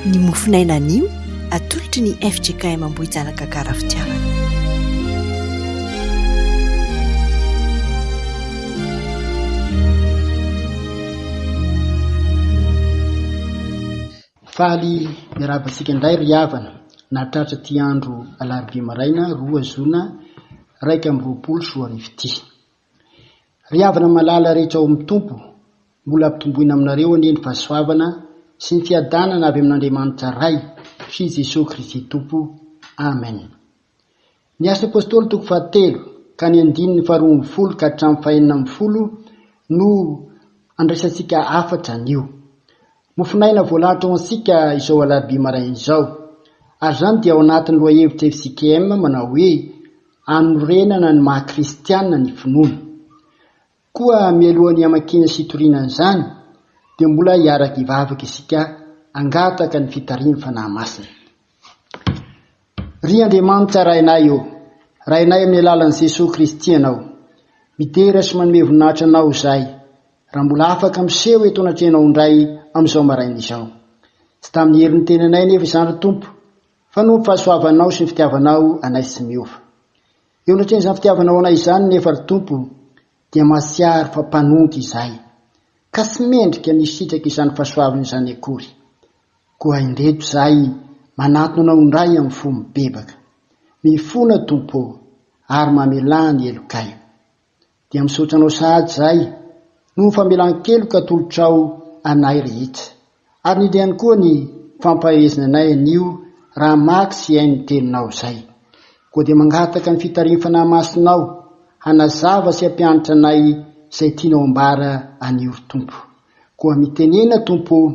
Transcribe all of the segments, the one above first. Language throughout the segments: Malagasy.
Ny mofon'aina anio atolotry ny fjkm Ambohijanaka Gara Fitiavana. Faly miarahaba antsika indray ry havana nahatratra ity andro alarobia maraina roa zona iraika amby roapolo sy roa arivo ity. Ry havana malala rehetra ao amin'ny Tompo, Mbola ampitomboina aminareo anie ny fahasoavana sy ny fiadanana avy amin'Andriamanitra Ray sy Jesoa Kristy Tompo. Amen. Ny Asan'ny Apostoly toko fahatelo ka ny andininy faharoa ambin'ny folo ka hatramin'ny fahenina ambin'ny folo no andraisantsika hafatra anio. Mofonaina voalahatra ho antsika izao alarobia maraina izao. Ary izany dia ao anatin'ny lohahevitra FCKM manao hoe Hanorenana ny maha-kristiana ny finoana. Koa mialohan'ny hamakiana sy hitoriana an'izany, dia mbola hiaraka hivavaka isika hangataka ny fitarihan'ny Fanahy Masina. Ry Andriamanitra Rainay ô, Rainay amin'ny alalan'i Jesoa Kristy Ianao, midera sy manome voninahitra Anao izahay, raha mbola afaka miseho eto anatrehanao indray amin'izao maraina izao. Tsy tamin'ny herin'ny tenanay anefa izany, ry Tompo, fa noho ny fahasoavanao sy ny fitiavanao anay tsy miova. Eo anatrehan'izany fitiavana ho anay izany nefa ry Tompo dia mahatsiaro fa mpanongy izahay ka tsy mendrika ny hisitraka izany fahasoavana izany akory. Koa indreto izahay manatona Anao indray amin'ny fo mibebaka. Mifona Tompo ô ary mamelà ny helokay. Dia misaotra anao sahady zahay noho famelan-keloka atolotrao anay rehetra. Ary indrindra ihany koa ny fampahehezana anay anio raha hamaky sy hihaino ny teninao izay. Koa dia mangataka ny fitarihin'ny Fanahy Masinao hanazava sy hampianatra anay izay tianao ambara anio ry Tompo. Koa mitenena Tompo o,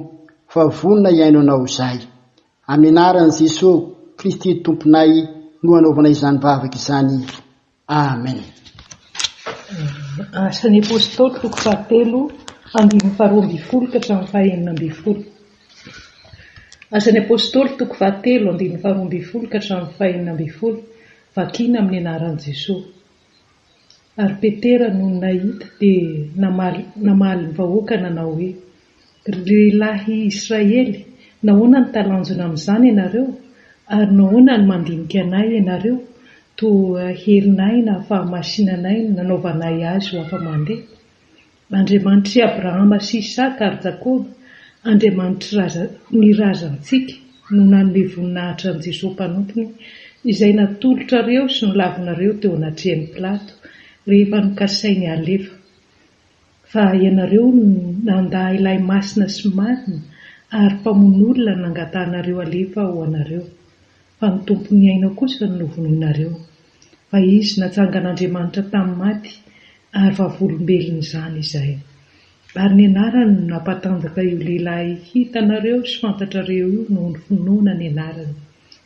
fa vonona hihaino anao izahay. Amin'ny anaran'i Jesoa Kristy Tomponay no anaovanay izany vavaka izany. Amen. Asa ny Apostoly toko fahatelo andininy faharoa ambin'ny folo ka hatramin'ny fahenina ambin'ny folo Asa ny Apostoly toko fahatelo andininy faharoa ambin'ny folo ka hatramin'ny fahenina ambin'ny folo Vakina amin'ny anaran'i Jesoa Ary Petera nony nahita dia namaly namaly ny vahoaka nanao hoe Ry lehilahy Israely, nahoana no talanjona amin'izany ianareo? Ary nahoana no mandinika anay ianareo? Toa herinay na fahamasinanay no nanaovanay azy ho afa-mandeha. Andriamanitr'i Abrahama sy Isaka ary Jakoba, Andriamanitr'ny razantsika, no nanome voninahitra an'i Jesosy Mpanompony, izay natolotrareo sy nolavinareo teo anatrehan'i Pilato, rehefa nokasainy halefa. Fa ianareo no nandà ilay masina sy marina ary mpamono olona nangatahanareo halefa ho anareo, fa ny Tompon'ny aina kosa no novonoinareo. Fa izy natsangan'Andriamanitra tamin'ny maty, ary vavolombelony izany izay. Ary ny anarany no nampatanjaka io lehilahy hitanareo sy fantatrareo io noho ny finoana ny anarany.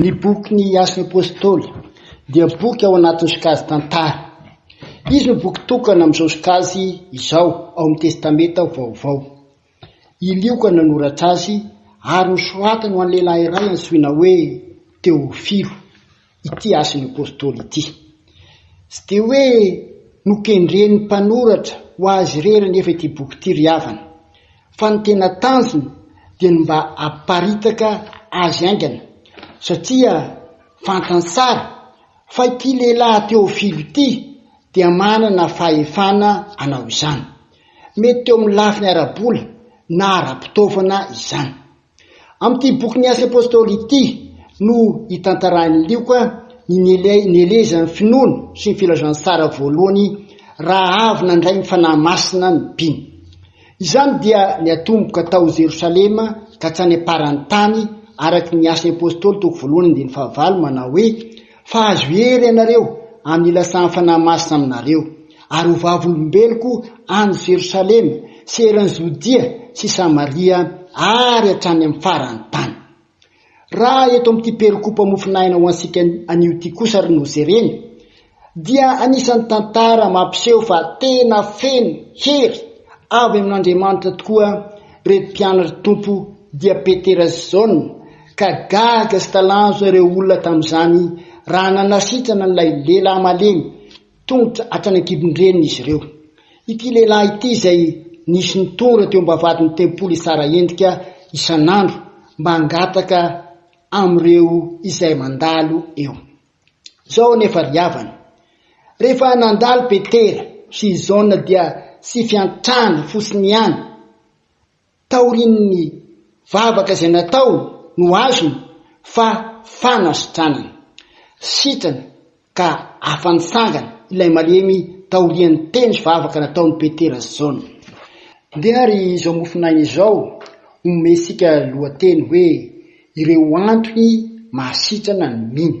Ny boky Ny Asan'ny Apôstôly dia boky ao anatin'ny sokajy Tantara. Izy no boky tokana amin'izao sokajy izao ao amin'ny Testamenta Vaovao. I Lioka no nanoratra azy ary nosoratany ho an'ny lehilahy iray antsoina hoe Teôfilo. ity hasin'ny Apostoly ity. Tsy dia hoe nokendren'ny mpanoratra ho azy irery anefa ity boky ity ry havana, fa ny tena tanjony dia ny mba hamparitaka azy haingana, satria fantany tsara fa ity lehilahy Teofilo ity dia manana fahefana hanao izany. Mety teo amin'ny lafiny ara-bola na ara-pitaovana izany. Amin'ity bokin'ny Asa Apôstôly ity no itantarain'i Lioka ny nielezan'ny finoana sy ny filazantsara voalohany raha avy nandray ny Fanahy Masina ny mpino. Izany dia niatomboka tao Jerosalema ka hatrany am-paran'ny tany araka ny Asan'ny Apôstôly toko voalohany andininy fahavalo manao hoe Fa hahazo hery ianareo amin'ny ilasan'ny Fanahy Masina aminareo, ary ho vavolombeloko any Jerosalema sy eran'i Jodia sy Samaria ary hatrany amin'ny faran'ny tany. Raha eto amin'ity perikopa mofonaina ho antsika anio ity kosa ry no jerena, dia anisan'ny tantara mampiseho fa tena feno hery avy amin'Andriamanitra tokoa ireto mpianatr'i Tompo dia Petera sy Jaona, Ka gaga sy talanjona ireo olona tamin'izany raha nanasitrana an'ilay lehilahy malemy tongotra hatrany an-kibon-dreniny izy ireo. Ity lehilahy ity izay nisy nitondra teo am-bavahadin'ny tempoly hitsara endrika isan'andro mba hangataka amin'ireo izay mandalo eo. Izao anefa ry havana, rehefa nandalo Petera sy i Jaona dia tsy fiantrana fotsiny ihany, Taorian'ny vavaka izay nataony no azony fa fanasitranana. Sitrana ka afa-nitsangana ilay malemy taorian'ny teny sy vavaka nataon'i Petera sy Jaona. Ndeha ary izao mofonaina izao omentsika lohateny hoe Ireo Antony Mahasitrana ny Mino.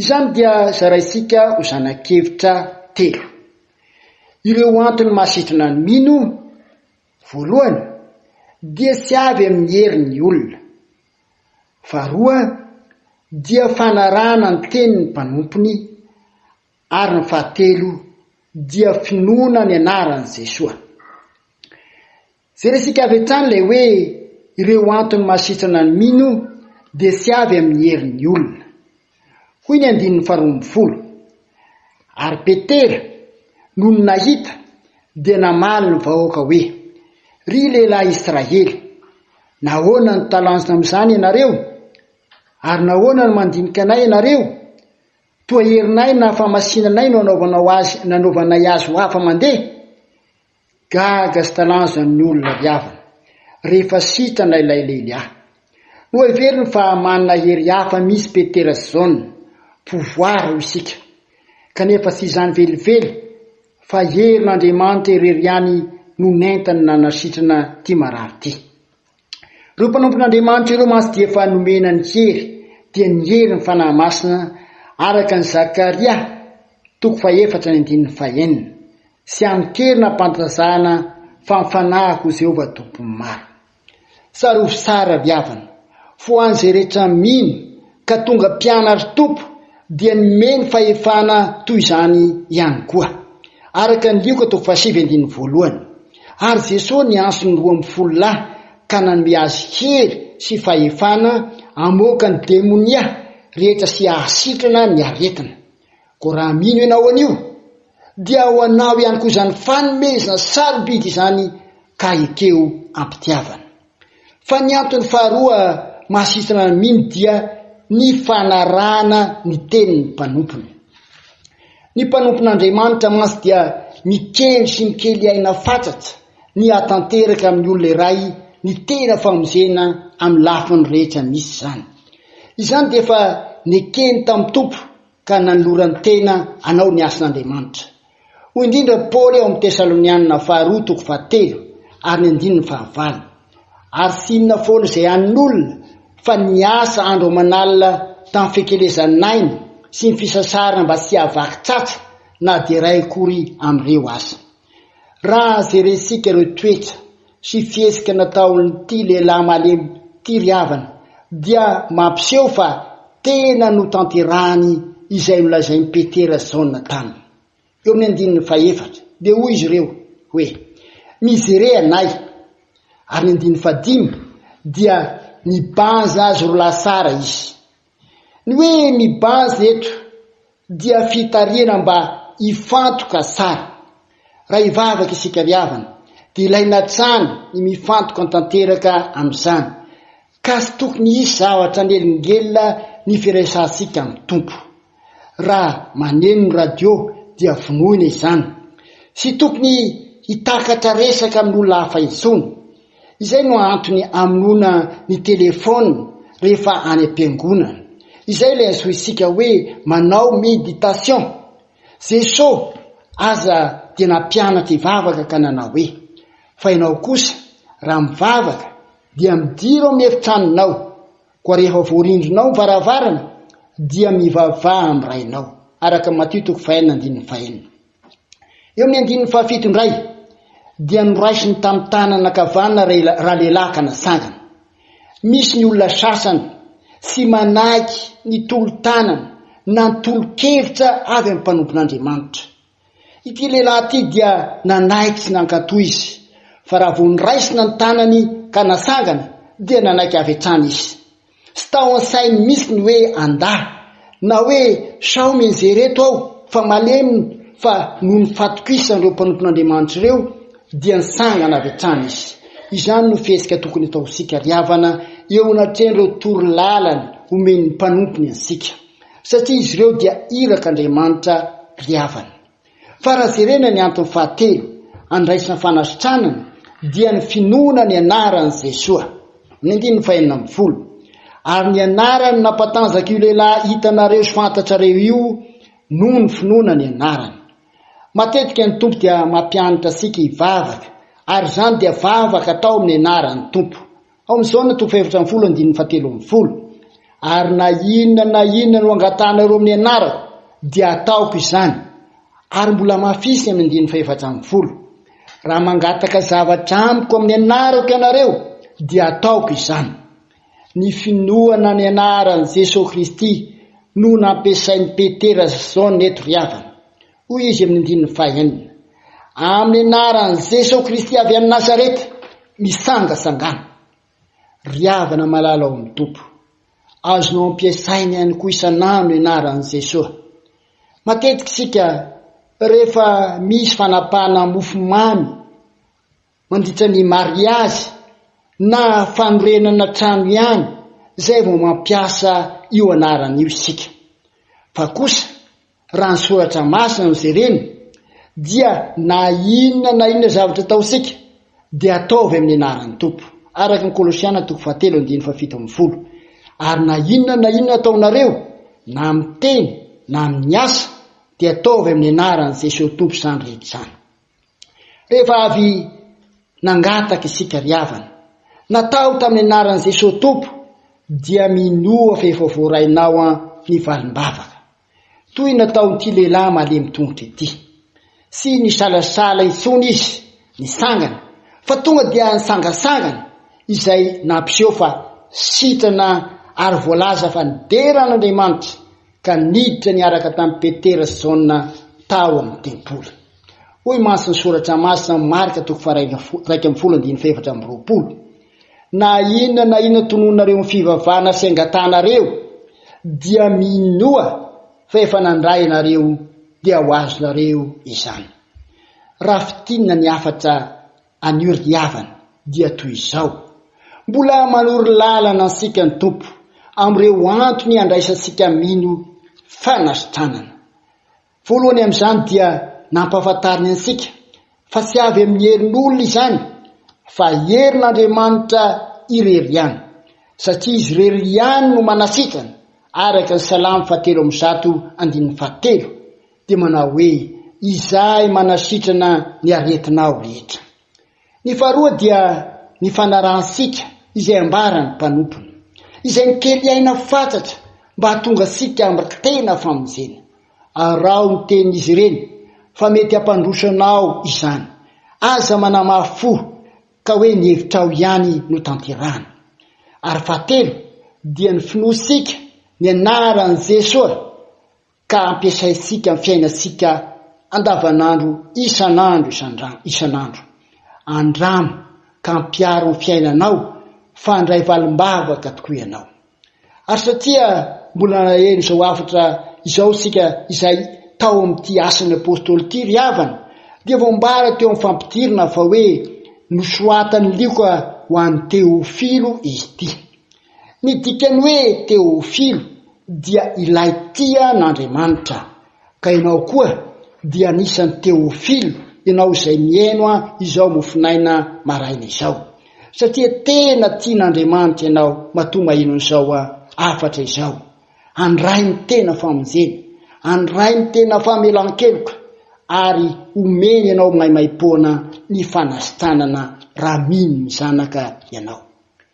Izany dia zaraintsika ho zana-kevitra telo. Ireo antony mahasitrana ny mino, voalohany, dia tsy avy amin'ny hery ny olona. Faharoa, dia fanarahana ny tenin'ny mpanompony, ary ny fahatelo, dia finoana ny anaran'i Jesoa. Jerentsika avy hatrany ilay hoe ireo antony mahasitrana ny mino dia tsy avy amin'ny herin'ny olona. Hoy ny andininy faharoa ambin'ny folo, Ary Petera, nony nahita, dia namaly ny vahoaka hoe, Ry lehilahy Israely, nahoana no talanjona amin'izany ianareo? Ary nahoana no mandinika anay ianareo? Toa herinay na fahamasinanay no anaovanao azy nanaovanay azy ho hafa-mandeha? Gaga sy talanjona ny olona ry havana rehefa sitrana ilay lehilahy. Noheveriny fa manana hery hafa mihitsy Petera sy Jaona, pouvoir hoy isika, kanefa tsy izany velively fa herin'Andriamanitra irery ihany no nentiny nanasitrana ity marary ity. Ireo mpanompon'Andriamanitra ireo mantsy dia efa nomena ny hery, dia ny hery ny Fanahy Masina, araka ny Zakaria toko fahefatra ny andininy fahenina, sy amin-keriny am-pantazana fa mifanahy ho Jehovah Tompon'ny maro. Sary hosary ravy havana, fo an'izay rehetra mino, ka tonga mpianary tompo dia nomeny fahefana toy izany ihany koa. Araka ny Lioka toko fahasivy andininy voalohany, ary Jesoa niantso ny roa amby folo lahy ka nanome azy hery sy fahefana hamoaka ny demonia rehetra sy hahasitrana ny aretina. Koa raha mino ianao an'io, dia ho anao ihany koa izany fanomezana sarobidy izany ka ekeo am-pitiavana. Fa ny antony faharoa mahasitrana ny mino dia ny fanarahana ny tenin'ny mpanompony. Ny mpanompon'Andriamanitra mantsy dia mikendry sy mikely aina fatratra ny hahatanteraka amin'ny olona iray ny tena famonjena amin'ny lafiny rehetra misy izany. Izany dia efa nekeny tamin'ny Tompo ka nanoloran-tena hanao ny asan'Andriamanitra. Hoy indrindra Paoly ao amin'ny Tesalonianina faharoa toko fahatelo ary ny andininy fahavalo, Ary tsy inona foana izay an'olona fa niasa andro aman'alina tamin'ny fikelezan'aina sy ny fisasarana mba tsy hahavaky tsatsa na dia iray akory amin'ireo aza. Raha jerentsika ireo toetra sy fihetsika nataon'ity lehilahy malemy ity ry havana dia mampiseho fa tena notanterahany izay nolazain'i Petera sy Jaona taminy. Eo amin'ny andininy fahefatra dia hoy izy ireo hoe, Mizere anay. Ary ny andininy fahadimy dia nibanza azy roa lahy tsara izy. Ny hoe ny base eto dia fitarihana mba hifantoka tsara. Raha hivavaka isika ry havana dia ilaina hatrany ny mifantoka tanteraka amin'izany ka tsy tokony hisy zavatra hanelingelina ny firaisantsika amin'ny Tompo. Raha maneno ny radio dia vonoina izany. Tsy tokony hitakatra resaka amin'olona hafa intsony. Izay no antony amonoana ny telephone rehefa any am-piangonana. Izay ilay antsointsika hoe manao meditation. Jeso aza dia nampianatra hivavaka ka nanao hoe, fa ianao kosa raha mivavaka dia midira ao amin'ny efitranonao, koa rehefa voarindrinao ny varavarana dia mivavaha amin'ny Rainao, araka Matio toko fahenina andininy fahenina. Eo amin'ny andininy fahafito indray dia noraisiny tamin'ny tanana ankavanana ralehilahy ka natsangana. Misy ny olona sasany tsy manaky ny tolo-tanana na ny tolo-kevitra avy amin'ny mpanompon'Andriamanitra. Ity lehilahy ity dia nanaiky sy nankatò izy, fa raha vao noraisina ny tanany ka natsangana dia nanaiky avy hatrany izy. Tsy tao an-sainy mihitsy ny hoe andà, na hoe sao mienjehy ireto aho fa malemy fa noho ny fahatokisan'ireo mpanompon'Andriamanitra ireo dia nitsangana avy hatrany izy. Izany no fihetsika tokony hataontsika ry havana eo anatrehan'ireo toro lalana omen'ny mpanompony antsika, satria izy ireo dia iraka Andriamanitra ry havana. Fa raha jerena ny antony fahatelo andraisana fanasitranana dia ny finoana ny anaran'i Jesoa, ny andininy fahenina ambin'ny folo, ary ny anarany nampatanjaka io lehilahy hitanareo sy fantatrareo io noho ny finoana ny anarany. Matetika ny Tompo dia mampianatra antsika hivavaka, ary izany dia vavaka atao amin'ny anaran'ny Tompo, Ao amin'ny Jaona toko fahefatra ambin'ny folo andininy fahatelo ambin'ny folo, Ary na inona na inona no angatahanareo amin'ny anarako, dia ataoko izany. Ary mbola hamafisiny amin'ny andininy fahefatra ambin'ny folo, Raha mangataka zavatra amiko amin'ny anarako ianareo, dia ataoko izany. Ny finoana ny anaran'i Jesoa Kristy no nampiasain'i Petera sy Jaona eto ry havana. Hoy izy amin'ny andininy fahenina, Amin'ny anaran'i Jesoa Kristy avy any Nazareta, misangasangana. Ry havana malala ao amin'ny Tompo, azonao ampiasaina ihany koa isan'andro ny anaran'i Jesoa. Matetika isika rehefa misy fanapahana mofomamy Mandritra ny mariazy na fanorenana trano ihany izay vao mampiasa io anarana io isika. Fa kosa raha ny soratra masina no jerena dia na inona na inona zavatra ataontsika dia ataovy amin'ny anaran'ny Tompo, araka ny Kolosiana toko fahatelo andininy fahafito ambin'ny folo, ary na inona na inona ataonareo na amin'ny teny na amin'ny asa dia ataovy amin'ny anaran'i Jesosy Tompo izany rehetra izany. Rehefa avy nangataka isika ry havana, natao tamin'ny anaran'i Jesoa Tompo, dia minoa f'efa voarainao an ny valim-bavaka, toy nataon'ity lehilahy malemy tongotra ity. Tsy nisalasala intsony izy nitsangana, fa tonga dia nitsangantsangana, izay nampiseho fa sitrana ary voalaza fa nidera an'Andriamanitra, ka niditra niaraka tamin'i Petera sy Jaona tao amin'ny tempoly. Hoy mantsy ny Soratra Masina ao amin'ny Marka toko faharaika iraika ambin'ny folo andininy fahefatra amby roapolo, Na inona na inona tonononareo amin'ny fivavahana sy angatanareo, dia minoa fa efa nandray ianareo, dia ho azonareo izany. Raha fintinina ny hafatra anio ry havana, dia toy izao, Mbola manoro lalana antsika ny Tompo amin'ireo antony handraisantsika mino fanasitranana. Voalohany amin'izany dia nampahafantariny antsika fa tsy avy amin'ny herin'olona izany fa herin'Andriamanitra irery ihany, satria Izy irery ihany no manasitrana, araka ny Salamo fahatelo amby zato andininy fahatelo dia manao hoe, Izahay manasitrana ny aretinao rehetra. Ny faharoa dia ny fanarahan-sika izay ambaran'ny mpanompony, izay mikely aina fatratra mba hahatonga antsika ambaka tena famonjena. Araho ny tenin'izy ireny fa mety hampandroso anao izany. Aza manamafy fo ka hoe ny hevitrao ihany no tanterahina. Ary fahatelo dia ny finoantsika ny anaran'i Jesoa. ka ampiasaintsika amin'ny fiainantsika andavanandro isan'andro isan'andro. Andramo ka ampiaro amin'ny fiainanao fa handray valim-bavaka tokoa ianao. Ary satria mbola naheno izao hafatra izao isika izay tao amin'ity Asan'ny Apostoly ity ry havana, dia voambara teo amin'ny fampidirana fa hoe, Nosoatan'ny lioka ho an'i Teofilo izy ity. Ny dikan'ny hoe teôfilo dia ilay tia an'Andriamanitra, ka ianao koa dia anisan'ny teôfilo, ianao izay mihaino izao mofonaina maraina izao, satria tena tian'Andriamanitra ianao matoa maheno an'izao hafatra izao. Handray ny tena famonjena, handray ny tena famelan-keloka, ary homeny anao maimaim-poana ny fanasitanana raha mino ny Zanaka ianao.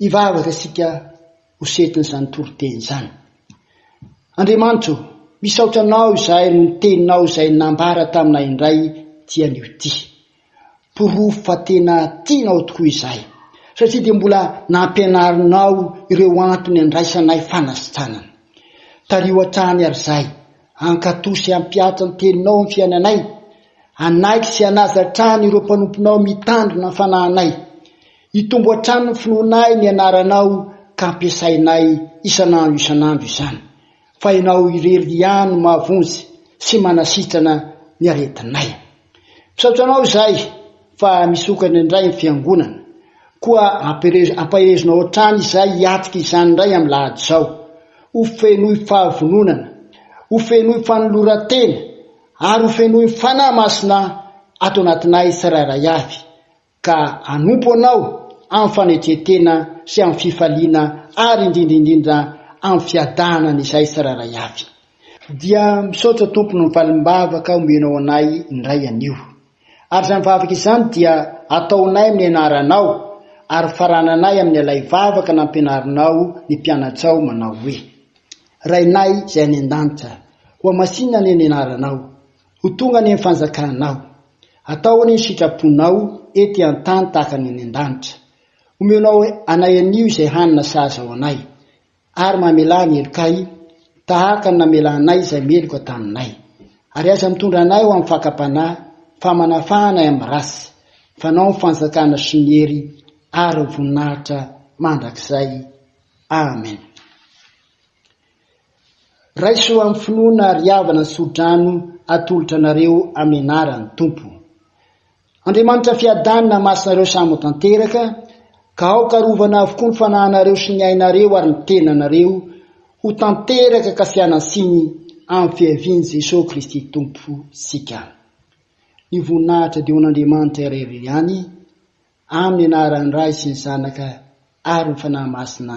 Hivavaka isika ho setin'izany toriteny izany. Andriamanitra o, misaotra Anao izahay noho ny Teninao izay nambara taminay indray ity anio ity. Porofo fa tena tianao tokoa izahay, satria dia mbola nampianarinao ireo antony andraisanay fanasitranana. Tariho hatrany ary izahay, hankatò sy hampihatra ny Teninao amin'ny fiainanay, hanaiky sy hanaja hatrany ireo mpanomponao mitandrina ny fanahinay. Hitombo hatrany ny finoana ahy ny anaranao ka ampiasainay isan'andro isan'andro izany, fa ianao irery ihany no mahavonjy sy manasitrana ny aretinay. Misaotra anao izahay fa misokatra indray ny fiangonana, koa ampaherezonao hatrany izahay hiatrika izany indray amin'ny lahady izao. Ho fenoy fahavononana, ho fenoy fanoloran-tena ary ho fenoy ny Fanahy Masina ato anatinay tsirairay avy. ka hanompo Anao amin'ny fanetren-tena sy amin'ny fifaliana ary indrindra indrindra amin'ny fiadanana izahay tsirairay avy. Dia misaotra Tompo noho ny valim-bavaka omenao anay indray anio. Ary izany vavaka izany dia ataonay amin'ny anaranao ary farananay amin'ny ilay vavaka nampianarinao ny mpianatsao manao hoe, Rainay izay any an-danitra, hohamasinina anie ny anaranao. Ho tonga ny fanjakanao. Atao ny sitraponao ety an-tany tahaka ny any an-danitra. Omenao anay anio izay hanina sahaza ho anay, ary mamelà ny helokay tahaka ny namelanay izay meloka taminay. Ary aza mitondra anay ho amin'ny fakam-panahy, fa manafaha anay amin'ny ratsy. Fa anao ny fanjakana sy ny hery ary ny voninahitra mandrakizay. Amena. Raiso amin'ny finoana ry havana ny tsodrano atolotra anareo amenaran'ny Tompo. Andriamanitra fiadanana masina ireo samy tanteraka ka aoka arovana avokoa ny fanahinareo sy ny ainareo ary ny tenanareo ho tanteraka ka fianansiny amin'ny fiavian'i Jesoa Kristy Tompo sika. Ny voninahitra dia ho an'Andriamanitra irery ihany amin'ny anaran'ny Ray sy ny Zanaka ary ny Fanahy Masina.